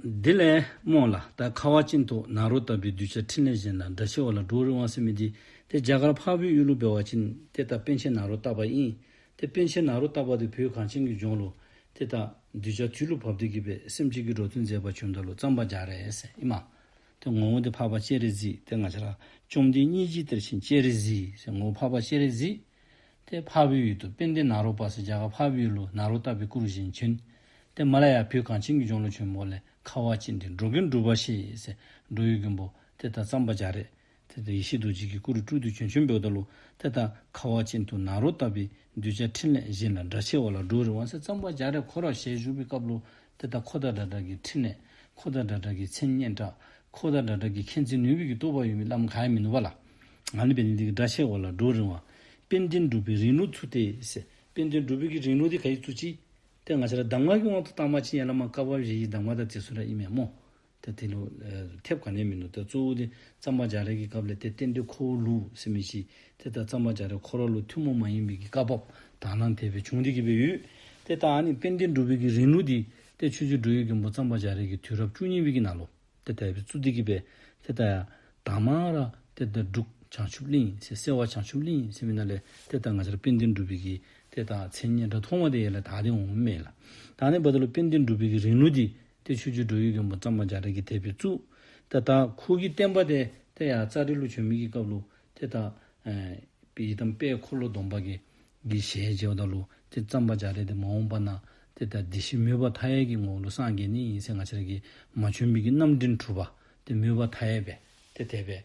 དེ་ལས་རྨོངས་ལ་ད་ཁ་བ་ཅིན་ཏོ་ནཱ་རོ་ལྟ་བུའི་གདུལ་བྱ་འཕྲིན་ལས་གཞན་དང་འདྲ་ཆེ་བ་ལ་འགྲོ་བ་རི་དབང་སེམས་མི་བདེ་དེ་རྒྱ་གར་འཕགས་བོད་གཡུ་ལོ་སྦལ་བ་ཅིན་དེ་ད་པན་ཆེན་ནཱ་རོ་ལྟ་བ་ཨིན་དེ་པན་ཆེན་ནཱ་རོ་ལྟ་བ་དེ་བོད་གངས་ཅན་གྱི་ལྗོངས་ལོ་དེ་ད་གདུལ་བྱ་དུས་ལུགས་བབ་བསྟོད་ཀྱི་པའི་སེམས་གཅིག་གིས་འགྲོ་དོན་མཛད་པ་ཆོས་མཐའ་ལོ་ཙམ་པ་རྒྱག་རེད་ཨེ་མ། དེ་ངོ་བོ་དེ་འཕགས་པ་སྤྱན་རས་གཟིགས་དེ་ང་ཆ་ར་བཅོམ་ལྡན་གཉིས་ཅི་སྟེར་ཕྱིན་སྤྱན་རས་གཟིགས་ཞེས་ངོ་བོ་འཕགས་པ་སྤྱན་རས་གཟིགས། ཏེ་ཕ་བུའི་ཡུལ་དུ་པིན་དེ་ན་རོ་པ་སི་རྒྱ་གར་ཕ་བུའི་ཡུལ་ལུགས་ན་རོ་ལྟ་བུའི་སྐུ་རུ་བཞེངས་བྱོན། ཏེ་མ་ལ་ཡ་བུས་གངས་ཅན་གྱི་ལྗོངས་ལོ་ཆེན་མོ་ལས་ཁ་བ་ཅན་འདི་འགྲོ་གིན་འགྲུབ་པ་ཞེས་སའི་འགྲོ་ཡུལ་རྒན་པོ་དེ་དང་རྩམ་པ་འཇའ་རས་དེ་དང་ཡེ་ཤེས་རྡོ་རྗེ་ཀྱི་སྐུ་རུ་སྤྲུལ་དུ་བྱོན་བྱོན་པའི་བརྡ་ལུགས་དེ་དང་ཁ་བ་ཅན་དུ་ན་རོ་ལྟ་བུའི་གདུལ་བྱ་འཕྲིན་ལས་གཞན་ལ་འདྲ་ཆེ་བ་ལ་འགྲོ་བའི་རི་དབང་སའི་རྩམ་པ་འཇའ་རས་འཁོར་བ་ཞལ་བཞུགས་པའི་སྐབས་ལོ་དེ་ལྟར་ཁོ་ཐག་སྒྲ་གྲགས་ཀྱི་ཕྲིན་ལས། ཁོ་ཐག་སྒྲ་གྲགས་ཀྱི་མཚན་སྙན་གྲགས། ཁོ་ཐག་སྒྲ་གྲགས་ཀྱི་མཁྱེན་བརྩེ་ནུས་བུ་ཡིས་གཏོར་བ་ཡོད་མི་ལམ་གང་ཡང་མི་ནུབ་པ་ལ། ང་ནི་དཔལ་ལྡན་གྱི་སྒྲ་ཆེ་བ་ལ་སྒྲོག་རིང་བ། དཔལ་ལྡན་སྒྲུབ་པའི་རིང་ལུགས་ཚུལ་དེ། དཔལ་ལྡན་སྒྲུབ་པོའི་གྱི་རིང་ལུགས་དེ་ག་ཡིས་ཚུལ་ཅི། དེ་ང་ཤེས་ལ་གདམས་ངག་གི་དབང་དུ་བཏང་མ་ཕྱིན་ཡན་ལག་མ་བཀག་པ་བཞི་ཡི་གདམས་ངག་དང་བཅས་སུ་ར་ཨི་མེད་མོ། ད་དེ་ལོ། ཐེབས་ག་ནས་མིན་འདུག་ད་གཙོ་བོ་དེ་རྩམ་པ་འཇག་རས་ཀྱི་སྐབས་ལས་དེ་གཏན་སྡོད་ཁོ་བོ་ལུག་སེ་མི་ཤི་དེ་ལྟར་རྩམ་པ་འཇག་རས་ཁོ་ར་ལུག་ཐུན་མོང་མ་ཡིན་པའི་གི་བཀའ་བབ་དག་སྣང་དེ་བས་བྱུང་རིགས་ཀྱི་བས་ཡུལ་དེ་དག་ནི་དཔལ་ལྡན་འབྲུག་བས་ཀྱི་རིང་ལུགས་དེ་དེ་ཆུ་ཚོད་འབྲུག་ཡུལ་གྱི་འབོ་རྩམ་པ་འཇག་རས་ཀྱི་དུས་རབས་བཅུ་གཉིས་བས་ཀྱི་ནང་ལོ་དེ་དག་བས་ཚུ་དེ་ཀྱི་བས་དེ་དག་ཡང་དག་མ་ར་དེ་དག་འབྲུག་བྱང་ཆུབ་གླིང་སེ་སེ་བ་བྱང་ཆུབ་གླིང་སེ་མི་ན་ལས་དེ་དག་ང་ཅར་དཔལ་ལྡན་འབྲུག་བས་ཀྱི་དེ་དག་མཚན་སྙན་འདྲ་མཐོང་བ་དེ་ཡལ་ལས་དག་དེ་འོང་མེད་ལ་དག་ནས་བ་དེ་ལོ་དཔལ་ལྡན་འབྲུག་བས་ཀྱི་རིང་ལུགས་དེ་ཏེ་ཆོས་རྒྱུད་འགྲོ་ཡུལ་གྱོང་པོ་གཙང་མ་འཇའ་རིས་ཀྱི་དད་པའི་གཙུག། ཏེ་ད་ཁུག་གི་བསྟན་པ་དེ་ཏེ་ཡང་རྩ་རི་ལུ་ཆོས་མིག་གི་བཀའ་བླུ། ཏེ་ད་པི་ཡི་དམ་དཔལ་འཁོར་ལོ་སྡོམ་པ་གི་གི་ཞལ་མཇལ་བ་དང་བླུ། ཏེ་གཙང་མ་འཇའ་རིས་ཏེ་མ་འོངས་པ་ན། ཏེ་ད་འདི་བཞི་མོས་པ་མཐའ་ཡས་ཀྱི་ངོ་བོ་ལུགས་སངས་རྒྱས་ནི་ཡིན་སྲིད་ང་ཕྱིར་གྱི་མ་ཆོས་མིག་གི་རྣམ་འདྲེན་གྲུབ་པ། ཏེ་མོས་པ་མཐའ་ཡས་པས་ཏེ་དད་པས།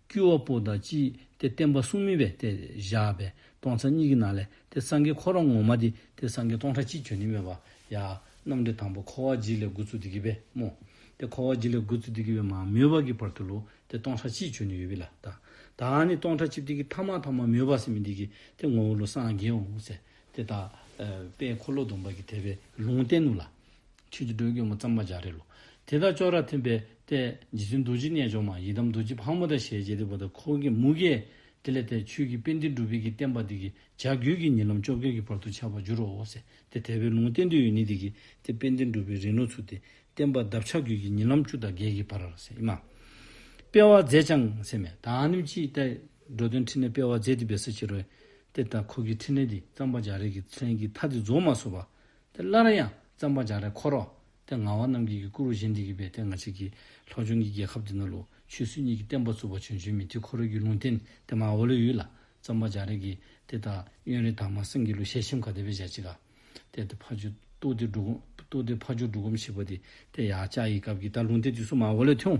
དཀྱུས་བ་པོ་དང་ཅི་སྟེ་བསྟན་པ་གསུམ་མིན་པས་དེ་བཞག་པས་སྟོང་ཚ་གཉིས་ཀྱི་ནང་ལས་དེ་སངས་རྒྱས་འཁོར་རང་ངོ་མ་དེ་དེ་སངས་རྒྱས་སྟོང་ཕྲག་གཅིག་བྱོན་ནི་མེད་པ་ཡ། རྣམ་འགྲེལ་དང་པོ་འཁོར་བ་གཅིག་ལས་དགུ་ཚུལ་དེ་གི་བས་སྨོས། དེ་འཁོར་བ་གཅིག་ལས་དགུ་ཚུལ་དེ་གི་བས་མ་སྨོས་པ་གི་བར་དུ་ལུགས་དེ་སྟོང་ཕྲག་གཅིག་བྱོན་ནི་ཡོད་བི་ལ་དང། དང་ནི་སྟོང་ཕྲག་གཅིག་དེ་གི་ཐ་མ་ཐ་མ་སྨོས་པ་སེམས་མི་འདི་གི་དེ་ངོ་བོ་ལུགས་སངས་རྒྱས་འོང་ཟེ། དེ་དག། པས་འཁོར་ལོ་སྡོམ་པ་གི་དེ་བས་ལུང་བསྟན་ནུ་ལ། ཁྱོད་ཀྱི་སྒྲོས་སྐྱོ་མོ་གཙང་མ་འཇའ་རེ་ལོ། དེ་དག་ཅོག་རར་ཐིམ་པས་བལྟས། རྗེ་བཙུན་རྡོ་རྗེ་རྣལ་འབྱོར་མ་ཡི་དམ་རྡོ་རྗེ་ཕག་མོ་དང་ཞལ་མཇལ་དེ་བ་དང་འཁོར་གྱི་མུ་གེ། དེ་ལས་ཐལ། ཆོས་ཀྱི་དཔལ་འདི་འགྲུབ་བས་ཀྱི་བསྟན་པ་འདི་ཀྱི་བྱ་རྒྱུད་ཀྱི་ཉིན་ལམ་བཅོ་བརྒྱད་ཀྱི་བར་དུ་འཆར་བར་འགྱུར་རོ། ཟེར་ཏེ་དལ་བའི་ལུང་བསྟན་དུས་ཡུན་ནི་འདི་ཀྱི་དེ་དཔལ་འདི་འགྲུབ་བའི་རིང་ལོ་ཚུགས་ཏེ། བསྟན་པ་གདབ་བྱ་རྒྱུད་ཀྱི་ཉིན་ལམ་བཅུ་དང་བརྒྱད་ཀྱི་བར། ཨེ་མ། སྤེལ་བར་མཛད་ཅིང་ཟེར། མེ་དང་ནིམ་ཅིའི་རཀྟས། འགྲོ་དོན་ཕྲིན་ལས་སྤེལ་བར་མཛད་དེ་བས་སུ་ཕྱི་རོལ། ཏེ། འཁོར་གྱི་ཕྲིན་ལས་འདི་གཙང་མ་འཇའ་རེ་ཀྱི་ཚལ་གྱི་མཐའ་འདི་རྫོགས་མ་སོ་བ། དེ་སླར་ཡང་བརྩམ་པ་འཇའ་རལ་འཁོར་རོ། དེ་ང་བ་རྣམས་ཀྱིས་ཀྱི་སྐུ་རུ་བཞེངས་ཏེ་ཀྱི་པའི་དེ་ང་ཅིག་གིས་ལྷོ་ལྗོངས་ཀྱི་རྒྱལ་ཁབ་དེ་ནོར་ལུག་ཆོས་སྲིད་གཉིས་ཀྱི་བསྟན་པ་བཙུགས་པ་བྱོན་བྱོན་མི་དེ་འཁོར་རོལ་གྱི་ལུང་བསྟན་དེ་མ་བ་ལོའི་ཡུལ་ལ་བརྩམ་པ་འཇའ་རལ་གྱིས་དེ་དག་གཡོན་རི་དྭགས་མ་སེང་གེ་ལུ་ཞལ་ཤེམ་ཁ་དེ་བས་འཇའ་ཅིག་ག་དེ་དེ་ཕ་ཆུ་སྟུག་དེ་འབྲུག་སྟུག་དེ་ཕ་ཆུ་འབྲུག་སྒོམ་ཞིག་པ་དེ་དེ་ཡ་ཅག་ཡི་སྐབས་ཀྱི་ད་ལུང་བསྟན་དུས་སུ་མ་བ་ལོའི་ཐེའུ།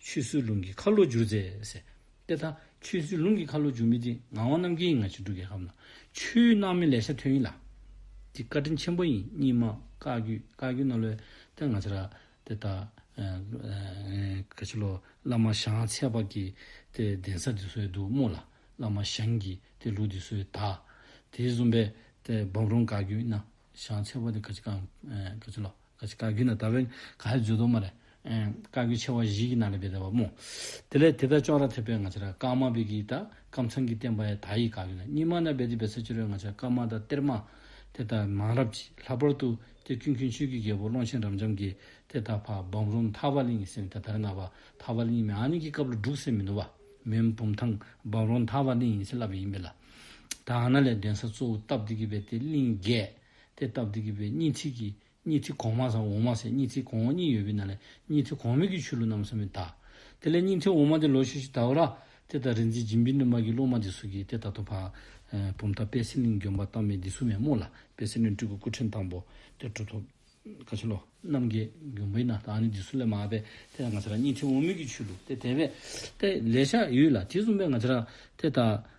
ཆུ་སྲུལ་རླུང་གིས་ཁ་ལོ་བསྒྱུར། ཟས་དེ་དག་ཆུ་སྲུལ་རླུང་གིས་ཁ་ལོ་བསྒྱུར་མི་དེ་ངག་དབང་རྣམ་རྒྱལ་ཡིན་ང་ཕྱི་དྲོ་རྒྱལ་ཁབ་ན་ཆུའི་སྣང་མེད་ལས་ཤ་ཐོན་ཡིན་ལ། འདི་བཀའ་དྲིན་ཆེན་པོ་ཡིན་གཉིས་མ་བཀའ་བརྒྱུད་བཀའ་བརྒྱུད་ན་ལོས་ཏེ་ང་ཚེ་ར་དེ་དག་ག་ཆེ་ལོ་བླ་མ་ཞང་ཚེ་པ་གི་དེ་གདན་ས་དེ་སོའི་འདུག་རྨོ་ལ་བླ་མ་ཞང་གི་དེ་ལུགས་དེ་སོའི་དག་དེའི་བཟུང་པའི་དེ་འབམ་རོང་བཀའ་བརྒྱུད་ན་ཞང་ཚེ་པ་དེ་ག་ཆེ་གང་ག་ཆེ་ལོ། ཀྱི་བཀའ་བརྒྱུད་ན་ད་བོན་ག་ཧའི་མཛོད་དུ་མ་རེད། བཀའ་བརྒྱུད་ཆེ་བ་བཞི་ཀྱི་ནང་ལས་བེ་ད་བ་མོ། དེ་ལས་དེ་ལྟར་ཅོག་ར་ཐེབས་པའི་ང་ཆ་ར་ཀརྨ་བེ་ཀྱི་ད་ཀམ་ཚང་གི་བསྟན་པ་ཡ་ད་ཡི་བཀའ་བརྒྱུད་ན་གཉིས་མ་ན་བེ་ཏི་བེ་ས་བཅུ་རེ་ང་ཆ་ཀརྨ་ད་གཏེར་མ། དེ་ད་མང་རབས་ཀྱི་ལྷག་པར་དུ་ཀྱེ་ཀུན་མཁྱེན་ཆོས་ཀྱི་རྒྱལ་པོ་ཀློང་ཆེན་རབ་འབྱམས་ཀྱི་དེ་ད་ཕ་བམ་རུང་མཐའ་བ་ལིང་སེམས་དེ་དར་ན་བ་མཐའ་བ་ལིང་མེ་ཨ་ནི་ཀྱི་སྐབས་ལ་སྒྲུག་སེ་མི་ནུ་བ་མེན་བུམ་ཐང་བམ་རུང་མཐའ་བ་ལིང་ཡིན་སེ་ལབ་ཡིན་བེ་ལ། ད་ཨ་ན་ལས་འདྲེན་ས་གཙོ་བོ་སྟབས་བདེ་ཀྱི་བེ་ཏི་ལིང་རྒྱས། དེ་སྟབས་བདེ་གི་བའི་གཉིས་ཚིག་གིས་གཉིས་ཚིག་གོང་མ་སམ་འོག་མ་ཟེར་གཉིས་ཚིག་གོང་འོག་གཉིས་ཡོད་པས་ན་ལས་གཉིས་ཚིག་གོང་མོད་ཀྱི་ཆུ་ལུ་རྣམས་སམ་མི་ད། དེ་ལས་གཉིས་ཚིག་འོག་མ་དེ་ལོ་ཤི་ཤི་དའོ་ར། དེ་ལྟར་རིག་འཛིན་སྦྱིན་པའི་སྣོད་མ་གི་སློབ་མ་འདི་སུ་གིས་དེ་ལྟ་དོ་བ། བུམ་མཐའ་དཔལ་སེང་གླིང་འཇོམས་པ་རྟགས་མེད་འདི་སུ་མེད་སྨོ་ལ་དཔལ་སེང་གླིང་སྤྲུལ་སྐུ་སྐུ་ཕྲེང་དང་པོ་དེ་གྲུབ་ཐོབ། བཀའ་ཆེན་ལོ། རྣམ་རྒྱལ་འཇོམས་པའི་ན་བདག་ནི་འདི་སུ་ལས་མ་བ་པས་དེ་ལྟར་ང་ཚ་ར་གཉིས་ཚིག་འོག་མོད་ཀྱི་ཆུ་ལུ་དེ་དེ་བས། དེ་ལས་ཤ་ཡུས་ལ་དེ་གསུངས་པས་ང་ཚ་ར་དེ་ལྟར།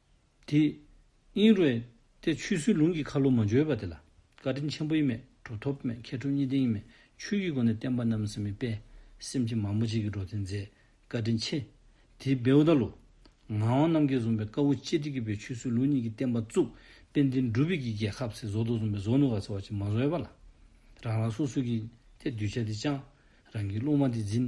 དེ། དབྱིངས་རོལ། ཏེ་ཆུ་སྲུལ་ལུང་གི་ཁ་ལོ་མ་འཇོལ་བ་དེ་ལ། བཀའ་དྲིན་ཆེན་པོ་ཡི་མེད་གྲུབ་ཐོབ་མེད་མཁས་གྲུབ་གཉིས་ལྡན་ཡི་མེད་ཆོས་ཀྱི་སྒོ་ནས་བསྟན་པ་རྣམས་སེམས་མི་སྤེལ། སེམས་ཅན་མང་པོ་གཅིག་གིས་འགྲོ་བསྟན་མཛད། བཀའ་དྲིན་ཆེ། དེ། བེའུ་ད་ལོ། ངག་དབང་རྣམ་རྒྱལ་བཟུང་བའི་བཀའ་བོ་ཅེ་ཏི་ཀི་པའི་ཆུ་སྲུལ་ལུང་གཉིས་ཀྱི་བསྟན་པ་བཙུགས། དཔལ་ལྡན་སྒྲུབ་པའི་ཀྱི་རྒྱལ་ཁབ་སྲིད་བཟོ་དོ་བཟུང་བའི་བཟོ་ནུ་བ་ཚེ་བ་ཅིག་མ་བཟོ་ཡ་པ་ལ། རང་རང་སོ་སོའི་ཀྱི། ཐེ། གདུལ་བྱ་དེ་བཅང། རང་གི་སློང་མ་དེ་འཛིན།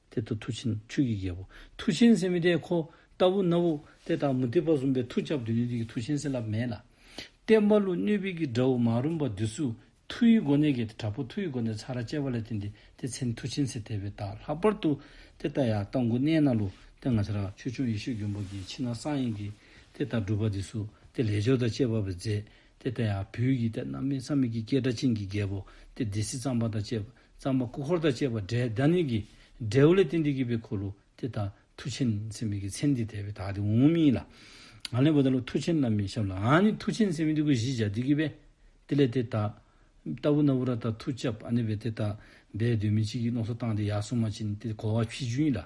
དེ་ལྟ་མཐུ་ཆེན་ཆོས་ཀྱི་རྒྱལ་པོ། མཐུ་ཆེན་སེམས་མི་དད་ཁོ། ལྟ་བུ་རྣ་བོ། དེ་ལྟར་མུ་སྟེགས་པ་གསུམ་པའི་མཐུ་ཁྱབ་འདོད་ནུས་ཀྱི་མཐུ་ཆེན་སེམས་རླབས་མེད་ལ། བསྟན་པ་ཀླུ་སྣོད་བིད་ཀྱི་དགྲ་བོ་མ་རུངས་པ་བདུད་གཟུགས་མཐུ་ཡི་སྒོ་ནས་བརྒལ་ཏེ་དྲག་པོ་མཐུ་ཡི་སྒོ་ནས་ཚ་ར་བཅད་པ་ལས་བརྟེན་ཏེ་དེ་ཚེ་མཐུ་ཆེན་སེམས་དད་པའི་རྟགས་ལྷག་པར་དུ་དེ་ལྟ་ཡང་ལྟ་མགུ་གནས་ན་ལུས་རྟེན་ང་ཚེ་རབས་ཆོས་སྐྱོང་ཡེ་ཤེས་མགོན་པོ་གྱིས་ཕྱི་ནང་གསང་ཡིན་གྱི། དེ་ལྟར་སྒྲུབ་པ་འདི་སུ་དེ་ལས་སྦྱོར་དང་བཅས་པ་བས་མཛེས། དེ་ལྟ་ཡང་བུ་ཡི་དད་རྣམ་སྨིན་བསམ་མེད་ཀྱི་སྐྱེས་དགྲ་ཆིངས་ཀྱི་རྒྱལ་པོ་སྟེ་སྡེ་སྲིད་གཙང་པ་དང་བཅས་པ། གཙང་མ་སྐུ་འཁོར་དང་བཅས་པ་བསྒྲལ་བདག་ནི་གྱི། བསྒྲལ་བུ་ལས་ཏེ་འདི་སྐྱེས་པའི་འཁོར་ལོ་དེ་དག་མཐུ་ཆེན་མཚན་མེད་ཀྱི་མཚན་འདི་དད་པའི་དག་དེ་འོང་ངོ་སྨྲིས་ལ། ང་ལན་བུ་དག་ལ་མཐུ་ཆེན་རྣམས་མི་བྱབ་ལ་ཨ་ནི་མཐུ་ཆེན་མཚན་མེད་འདི་ཀུན་གཞི་བྱ་འདི་སྐྱེས་པས་དེ་ལས་དེ་དག། ལྟ་བུ་ན་བུ་ར་དག་མཐུ་བྱབ་ཨ་ནི་བས་དེ་དག། བས་འདོད་མི་བྱེད་ཀྱི་ནོག་སོ་བཏང་སྟེ་ཡར་སོང་མ་ཕྱིན་ཏེ་གོ་བ་ཕྱིས་བྱུང་ཡིན་ལ།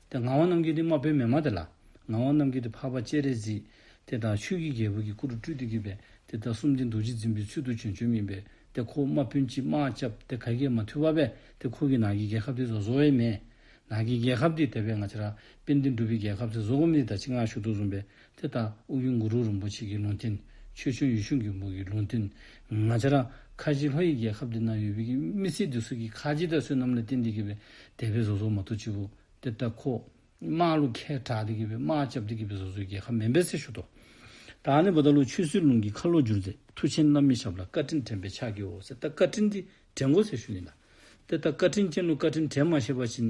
དེ་ངག་དབང་རྣམ་རྒྱལ་དེ་དམར་པོའི་མེ་མ་དེ་ལ། ངག་དབང་རྣམ་རྒྱལ་དེ་འཕགས་པ་སྤྱན་རས་གཟིགས། དེ་དང་ཆོས་ཀྱི་རྒྱལ་པོ་གྱི་སྐུ་རུ་སྤྲུལ་དུ་བགྱིས་པས་དེ་དག་གསུམ་དེ་རྡོ་རྗེ་འཛིན་པའི་ཚུལ་དུ་བྱོན་བྱོན་མིན་པས་དེ་ཁོ་བོ་དམར་པོའི་མཆིལ་མ་བཅབས་དེ་ག་གེ་མ་ཐུལ་བ་བས་དེ་ཁོ་གི་ནགས་ཀྱི་རྒྱལ་ཁབ་དེ་བཟོ་བའི་མེ། ནགས་ཀྱི་རྒྱལ་ཁབ་དེ་དེ་བས་ང་ཅི་ར་པེ་འདི་འགྲུབ་པའི་རྒྱལ་ཁབ་དེ་བཟོ་བ་མི་དེ་དག་ཅི་ངང་ཞུགས་ཐུག་གསུངས་པས་དེ་ལྟར་དབུགས་དབྱུང་གུ་རུ་རིན་པོ་ཆེ་གི་ལུང་བསྟན། ཆོས་འབྱུང་ཡུལ་གཞུང་གི་འབུར་གྱི་ལུང་བསྟན། ང་ཅཱ་ར། ཁ་ཆེའི་ལྷོ་ཡི་རྒྱལ་ཁབ་འདི་ན་ཡོད་པའི་མི་སྲིད་དུ་སྲིད་ཀྱི་ཁ་ཆེའི་དར་སྲོལ་རྣམས་ལས་བསྟན་འདི་དགེ་བའི་དད་པའི་བཟོ་ཚོགས་མ་ཐུགས་ཆེ་བུ་གཏེར་བདག་ཁོ། དམག་ལུགས་མཁས་གྲགས་འདི་དགེ་བའི་དམག་བཅབས་འདི་དགེ་བའི་བཟོ་ཚོགས་རྒྱལ་ཁ་མེ་འབེལ་སེ་ཞུ་ཏོ། བདག་ནི་བུ་ད་ལོ་ཆོས་སྲིད་ལུང་གི་ཁ་ལོ་བསྒྱུར་མཛད་མཐུ་ཆེན་རྣམ་གཉིས་ཞབས་ལ་བཀའ་དྲིན་དྲན་པའི་ཕྱག་བགྱིའོ་གཏེར་བདག་བཀའ་དྲིན་འདི་དྲན་གོ་སེ་ཞུ་ཡིན་ལ། གཏེར་བདག་བཀའ་དྲིན་ཅན་ལུགས་བཀའ་དྲིན་དྲན་མ་ཤེས་པ་བྱིན།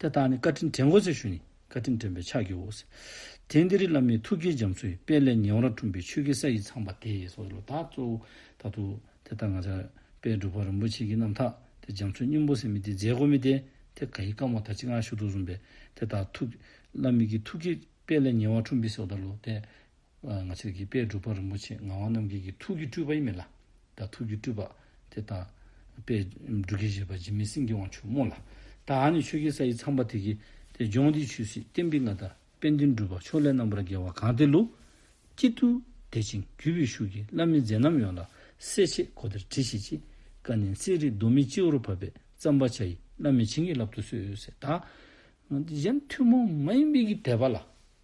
དེ་དག་ནི་བཀའ་དྲིན་དྲན་གོ་ཚེ་ཞུ་ནི་བཀའ་དྲིན་དྲན་པའི་ཕྱག་རྒྱའོ། དེང་འདིར་བླ་མའི་ཐུགས་དཀྱིལ་འཇམ་ཚུལ་དཔལ་ལས་ཉེ་བར་འཁྲུངས་པའི་ཆོས་ཀྱི་ས་ཡིས་ཚངས་པ་དེ་སོགས་ཀྱི་ལོ་དག་གཙོ་བོ་དག་ཏུ། དེ་ལྟར་ང་ཅག་པས་སྒྲུབ་པ་རིན་པོ་ཆེ་གྱི་རྣམ་དག་དེ་འཇམ་ཚུལ་སྙིང་པོ་སེམས་མི་སྟེ་རྫས་སྒོ་མི་སྟེ་དེ་ག་ཡིས་བསྐང་བ་དག་ཅིག་སྔར་ཞུ་གཏུགས་གསུངས་པས་དེ་དག་ཐུགས། བླ་མེད་ཀྱི་ཐུགས་དཀྱིལ་དཔལ་ལས་ཉེ་བར་འཁྲུངས་པའི་སོགས་ལྟར་ལོ་དེ། ང་ཕྱིར་གྱི་དཔལ་སྒྲུབ་པ་རིན་པོ་ཆེ་ངག་དབང་རྣམ་རྒྱལ་གྱི་ཐུགས་ཀྱི་སྤྲུལ་པ་ཡིན་མིན་ལ། ད་ཐུགས་ཀྱི་སྤྲུལ་པ། དེ་ལྟ། པས། འབྲུག་གི་བཞེད་པ་འཇིགས་མེད་སེང་གེ་དབང་ཕྱུག་མོ་ལ། ད་ཨ་ནི་ཆོས་ཀྱི་ས་ཡི་ཚངས་པ་དེ་གི། དེ་ལྗོངས་འདི་ཆུད་ཟོས་བསྟན་པའི་མངའ་བདག། དཔལ་ལྡན་སྒྲུབ་པ་ཕྱོགས་ལས་རྣམ་པར་རྒྱལ་བ་གང་དེ་ལུ། སྐྱིད་དུ། དད་ཅིང་རྒྱུད་པའི་ཤུགས་ཀྱིས་བླ་མེད་མཛད་རྣམ་ཡོངས་ལ། གསལ་བྱེད་གོ་བདེར་བྲི་ཞིག་ཅེས། བཀའ་ནན་གསེར་རི་རྡོ་མིག་སྤྱི་བོར་བབས་པས་བརྩམས་པ་བྱ་ཡི་བླ་མེད་བྱིན་གྱིས་བརླབ་ཏུ་གསོལ། ད། གཞན་ཐུན་མོང་མ་ཡིན་དཔལ་གྱི་དད་པ་ལ།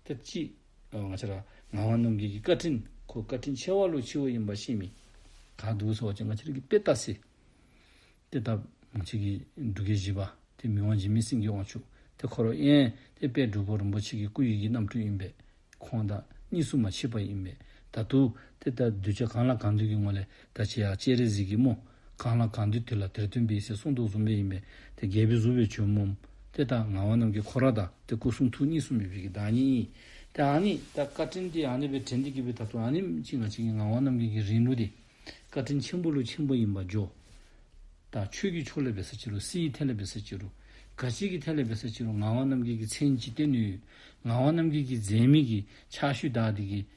དེབ་ཅིག། ང་ཆེ་ར། ངག་དབང་ནམ་རྒྱལ་གྱི་བཀའ་དྲིན། ཁོ་བཀའ་དྲིན་ཆེ་བ་ལོ་ཆེ་བོ་ཡིན་པ་ཤེས་མི། ག་འདུག་སོགས་ཀྱི་ང་ཆེ་ར་གི་དཔེ་བལྟ་སྲིད། དེ་ལྟ། ང་ཆེ་གི་འབྲུ་སྐད་བཞི་པ། དེ་མི་དབང་འཇིགས་མེད་སེང་གེ་དབང་ཕྱུག། དེ་འཁོར་བ་ཡན། དེ་དཔལ་སྒྲུབ་པོ་རིན་པོ་ཆེ་གི་སྐུ་ཡི་གི་རྣམ་སྤྲུལ་ཡིན་པས། ཁོང་དང། གཉིས་སུ་མ་མཆིས་པ་ཡིན་པས། ད་དུ། དེ་ལྟར་གདུལ་བྱ་གང་ལ་གང་འདུལ་གྱི་ངོ་ལས། ད་ཅི་ཡག་སྤྱན་རས་གཟིགས་ཀྱི་སྨོ། གང་ལ་གང་འདུལ་དེ་ལ་དེར་སྟོན་པའི་སྲས་གསུང་ཐུགས་གསུམ་ལས་ཡིན་པས་དེ་རྒྱལ་པོའི་གཟུ་བོའི་བྱོན་སྨོ། དེ་ལྟར་ངག་དབང་རྣམས་ཀྱི་འཁོར་ར་དང་དེ་སྐུ་གསུང་ཐུགས་གཉིས་གསུམ་མི་ཕལ་གྱི་བདག་ཉིད་ཡིན། དེ་ཨཱ་ནི། ད་བཀའ་དྲིན་དེ་ཨཱ་ནི་བའི་དྲིན་དེ་བསྐྱེད་པའི་ཐབས་སུ་ཨཱ་ནི་གཅིག་ང་གཅིག་གི་ངག་དབང་རྣམས་ཀྱི་གི་རིང་ལུགས་དེ། བཀའ་དྲིན་ཆེན་པོ་ལུགས་ཆེན་པོ་ཡིན་པ་བརྗོད། ད་ཆོས་ཀྱི་ཕྱོགས་ལས་བེ་སེ་ཅི་རུ་སི་ཡི་ཐད་ལས་བེ་སེ་ཅི་རུ། ག་ཅིག་གི་ཐད་ལས་བེ་སེ་ཅི་རུ་ངག་དབང་རྣམས་ཀྱི་གི་མཚན་ཅི་སྟེ་ནུས། ངག་དབང་རྣམས་ཀྱི་གི་མཛད་མི་གི་ཕྱག་ཤུལ་དག་དེ་གི་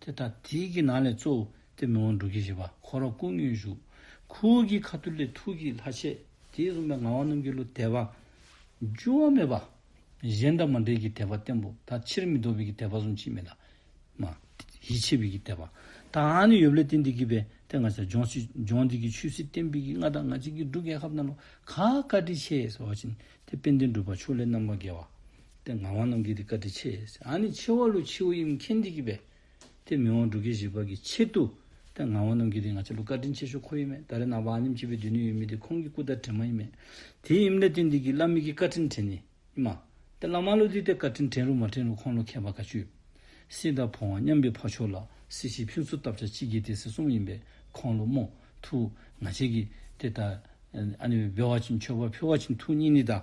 དེ་ལྟར་དེའི་གྱི་ནང་ལས་གཙོ་བོ་སྟེ་མི་དབང་དྲུག་གིས་བཞེད་པ་འཁོར་བ་ཀུན་མངོན་བཞུགས། ཁུ་བོ་གྱི་ཁ་ཐུར་ལས་ཐུགས་ཀྱི་ལྷ་ཆས་དེས་བཟུང་བའི་ངག་དབང་རྣམས་ཀྱི་གླུ་དད་པ། འགྱུར་བ་མེད་པ། གཞན་དང་མ་འདྲེས་ཀྱི་དད་པ་བརྟན་པོ་དང་ཕྱིར་མི་ལྡོག་པའི་གྱི་དད་པ་བཟུང་ཕྱིན་མེད་དང། མ། ཡིད་ཆེས་པའི་གྱི་དད་པ། དང་ནི་ཡོབ་ལས་བསྟན་འདི་གྱིས་པའི་དེ་ང་ཆ་འཇོག་ཕྱིར་འབྱུང་འདི་གྱི་ཆོས་སྲིད་བསྟན་པའི་གྱི་ལྔ་དང་ང་ཅིག་གི་འབྲུ་རྒན་ཧབ་ན་ལོ་ག་བཀའ་དྲི་ཆེ་ཟེར་བ་བཞིན་དེ་དཔལ་ལྡན་སྒྲུབ་པ་ཕྱོགས་ལས་རྣམ་པར་རྒྱལ་བ། དེ་ངག་དབང་རྣམས་ཀྱིས་དེ་བཀའ་དྲི་ཆེ། ཨ་ནི་ཆེ་བ་ལུ་ཆིའུ་ཡིམ་ཁེན་དི་གི་བས། དེ་མི་དབང་འབྲུག་གི་བཞི་པ་གི་ཆེད་དུ། དེ་ངག་དབང་རྣམས་ཀྱིས་དེ་ང་ཆེ་ལུ་བཀའ་དྲིན་ཆེ་ཤོ་ཁོ་ཡིན་མེད་ད་རེ་ནང་པ་ཨ་ནིམ་སྤྱི་བའི་དུས་ནི་ཡོད་མི་དེ་ཁོང་གི་སྐུ་ལྟར་དྲི་མ་ཡིན་མེད། དེའི་ཡིམ་ལས་དོན་དི་གི་བླ་མི་གི་བཀའ་དྲིན་དྲན་ནི་ཡིན་མ། དེ་བླ་མ་ལུ་དི་དེ་བཀའ་དྲིན་དྲན་རུ་མ་དྲན་རུ་ཁོང་ལུ་མཁས་པ་དགའ་ཆུ། སི་ད་བོང་བ་མཉམ་པའི་ཕ་ཆོ་ལ་སི་ཞིས་ཕུན་ཚུ་བཏབ་ཆ་གཅིག་གི་དེ་སི་གསུམ་ཡིན་པས་ཁོང་ལུ་མོ་ཐུ། ང་ཆེ་གི་དེ་ད། ཨ་ནི་བའི་བེ་བ་ཅིན་ཆོས་པ་ཕེ་བ་ཅིན་ཐུ་གཉིས་ནི་ད།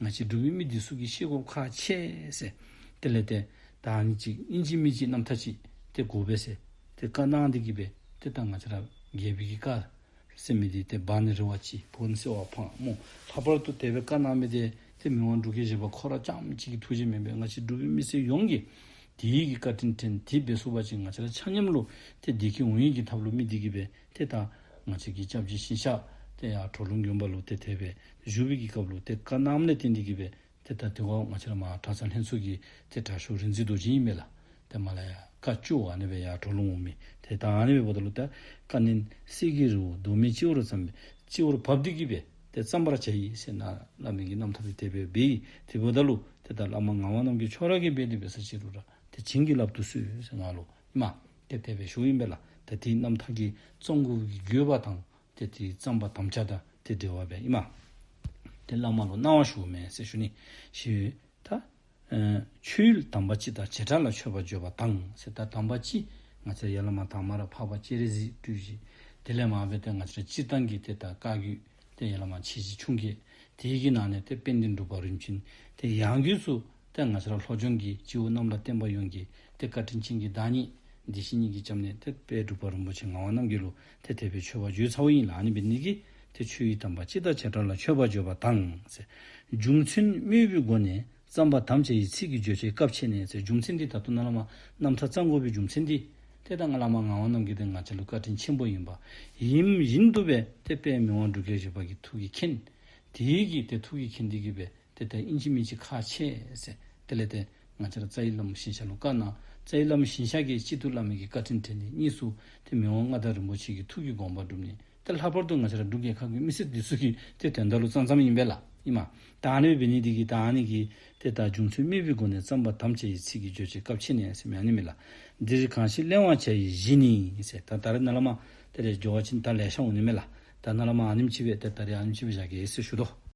ང་ཅི་འགྲོ་བའི་མི་འདི་སུ་གིས་ཤེས་གོ་ཁ་ཆེ། དེ་ལས་དེ། བདག་ནི་གཅིག་དབྱིན་ཇི་མི་གཅིག་རྣམ་ཐ་ཅིག། དེ་དགོ་བས་སེ། དེ་བཀའ་གནང་འདི་གིས་པས་དེ་ལྟར་ང་ཅི་རབ་རྒྱལ་བོད་ཀྱི་བཀའ། སེ་མི་དེ་དེ་བག་ནི་རི་བ་ཅི། བོ་ནི་སེ་བ་ཕག་མོ། ལྷག་པར་དུ་དེ་བས་བཀའ་གནང་མི་དེ། དེ་མི་དབང་འགྲུ་ཁའི་བཞེད་པ་ཁོ་ར་ལྕམ་གཅིག་གི་ཐུགས་རྗེ་མིན་པས་ང་ཅི་འགྲོ་བའི་མི་སེ་ཡོངས་ཀྱིས། དེ་ཡིག་གི་བཀའ་དྲིན་དྲན་དེ་བས་སུ་བ་ཅིག་ང་ཅི་ར་ཆ་སྙམ་ལུགས་དེ་དེ་གིས་འོང་ཡིག་གི་ཐབས་ལུགས་མི་འདི་གིས་པས་དེ་དང། ང་ཅིག་གིས་ཅབ་ཅིག་ཤིང་བཤགས། དེ་ཡང་གྲོ་ལུང་གཡོན་པ་ལུགས་དེ་དེད་པས་བཞུགས་པའི་གི་སྐབས་ལུགས་དེ་ཀ་ནམ་ལས་ཏེ་འདི་གི་བས་དེ་ད་དེ་འོག་མ་ཕྱི་ལ་མ་གྲགས་ཚང་ལྷན་ཚུགས་ཀྱི་དེ་གྲགས་ཤོག་རིག་འཛིན་རྡོ་རྗེ་ཡིན་མེད་ལ་དེ་མ་ལ་ཡ་ཀ་བཅུ་བ་ནི་བས་ཡ་གྲོ་ལུང་འོག་མིན་དེ་ད་ནི་བས་བོ་ད་ལུགས་དེ་ཀ་ནི་སྲིད་ཀྱི་རི་བོ་གདོད་མའི་སྤྱི་བོ་རུ་བརྩམས་པས་སྤྱི་བོ་རུ་བབས་འདི་གི་བས་དེ་བརྩམ་པར་བྱ་ཡིས་ཞེས་ན་བླ་མེད་ཀྱི་རྣམ་ཐར་དེ་དེད་པས་བས་ཡིས་དེ་བོ་ད་ལུགས་དེ་ད་བླ་མ་ངག་དབང་རྣམས་ཀྱི་མཆོག་རག་གི་བས་དེ་བས་ས་སྤྱི་རུ་རག་དེ་བྱིན་གྱིས་བརླབ་ཏུ་གསོལ་ཞེས་ངག་ལོ་སྨྲ། དེ་དད་པའི་གཞུང་ཡིན་པས་ལ་དད་དེའི་རྣམ་ཐར་གྱི་གཙོ་འགུགས་ཀྱི་རྒྱུད་པ་དང་དེ་དེའི་བརྩམས་པ་དམ་བཅའ་དང་དེ་འབྲེལ་བ་བས་ཡིན། མ་དེ་བླ་མ་ལོ་སྣང་བ་ཞུ་བ་མའི་སྲས་ཞུ་ནི་ཞེས་ཡོད་ད། མཆོད་ཡུལ་དམ་པ་སྤྱི་ལྟར་བྱེ་བྲག་ལ་མཆོད་པ་བརྗོད་པ་དང། སྲས་དར་དམ་པ་སྤྱི་ང་ཚེ་ཡར་བླ་མ་དར་མར་འཕགས་པ་སྤྱི་རེ་གཟིགས་སྤྲུལ་གྱིས་དེ་ལས་མ་འོས་པས་ང་ཚེ་སྤྱིར་བཏང་གི་དེ་ལྟར་བཀའ་བརྒྱུད། དེ་ཡན་ལག་མ་ཕྱེད་ཅིག་ཕྱུང་སྐད། དེ་ཡི་གེའི་ནང་ནས་དེ་དཔེ་འདི་འགྲུབ་པ་རིམ་བྱིན། དེ་ཡང་དུས་སུ། དེ་ང་ཚེ་རབས་ལྷོ་ལྗོངས་ཀྱི་སྤྱི་བོ་གནམ་ལ་བརྟེན་པ་ཡོངས་ཀྱི། དེ་བཀའ་དྲིན་ཆེན་གྱི་བདག་ཉིད། བདེ་གཤེགས་ཉིད་ཀྱིས་བཅབས་ནས་དེ། དཔལ་འབྲུག་པ་རིན་པོ་ཆེ་ངག་དབང་རྣམ་རྒྱལ་ལུགས། དེ་དད་པའི་མཆོད་པ་བརྗོད་ཚ་བོ་ཡིན་ལ་ཨ་ནི་བི་ནི་ཀི། དེ་ཆོས་ཡིད་དམ་པ་སྤྱི་ལྟར་བྱེ་བྲག་ལ་མཆོད་པ་བརྗོད་པ་དང། རྒྱུ་མཚན་དམོད་བུའི་སྒོ་ནས་རྩམ་པ་དམ་བཅའ་ཡི་ཚིག་གི་བརྗོད་བྱའི་སྐབས་ཕྱེ་ནས་ཚེ་འཇུག་མཚན་འདི་དང་ཐུ་ན་ལ་མ་རྣམ་ཁྲ་ཚང་དགོས་པའི་འཇུག་མཚན་འདི། དེ་ལྟ་ང་ལ་མ་ང་བ་རྣམས་ཀྱི་དེ་ང་ཆ་ལུགས་བཀའ་དྲིན་ཆེན་པོ་ཡིན་པ། ཡིན། ཡིན་འདུག་པས་དེ་དཔེའི་མིང་དབང་འབྲུག་སྐད་བཞི་པ་གི་ཐུགས་ཀྱི་མཁྱེན། དེའི་གིས་དེ་ཐུགས་ཀྱི་མཁྱེན་འདི་གིས་པས་དེ་ལྟ་ཨིན་ཅི་མིན་ཅི་ཁ་ཆེ་སེ། དེ་ལས་དེ་ང་ཆར་རྩ་ཡི་བླ་མ་ཤིང་བྱ་ལུགས་བཀའ་གནང། རྩ་ཡི་བླ་མ་ཤིང་བྱ་ཀྱིས་སྤྱི་ཐུ་བླ་མེད་ཀྱི་བཀའ་དྲིན་དྲན་ཏེ་གཉིས་སུ་དེ་མིང་དབང་མངའ་བདག་རིན་པོ་ཆེ་གི་ཐུགས་ཀྱི་དགོངས་པ་བསྒྲུབས་ནས། དེ་ལྷག་པར་དུ་ང་ཤ་ར་འབྲུག་རྒྱལ་ཁག་གི་མི་སེར་འདི་སུ་གིས་དེ་དོན་དག་ལུགས་ཙམ་ཙམ་ཡིན་པས་ལ་ཡིན། མ་དང་ནི་བི་ནི་དི་གིས་དང་ནི་གིས་དེ་དག་འབྱུང་ཚུལ་རྨེ་བུའི་སྒོ་ནས་བརྩམས་པ་དམ་བཅའ་ཡི་ཚིག་གི་རྗོད་བྱེད་སྐབས་ཕྱེ་ནས་སེམས་ཡང་ནི་མི་ལ། འདིར་གང་ཞིག་གླེང་བར་བྱ་ཡི་གཞི་ནི། ད་ད་རེ་ན་ལ་མ། དེ་རེ་སྦྱོར་བ་ཅི་ནི་ད་ལས་ཤ་འོ་ནི་མེ་ལ། ད་ན་ལ་མ་ཨ་ནིམ་ཅི་བས་དེ་ད་རེ་ཨ་ནིམ་ཅི་བས་བཞག་གེ་ཧེ་སེ་ཞུ་དོ།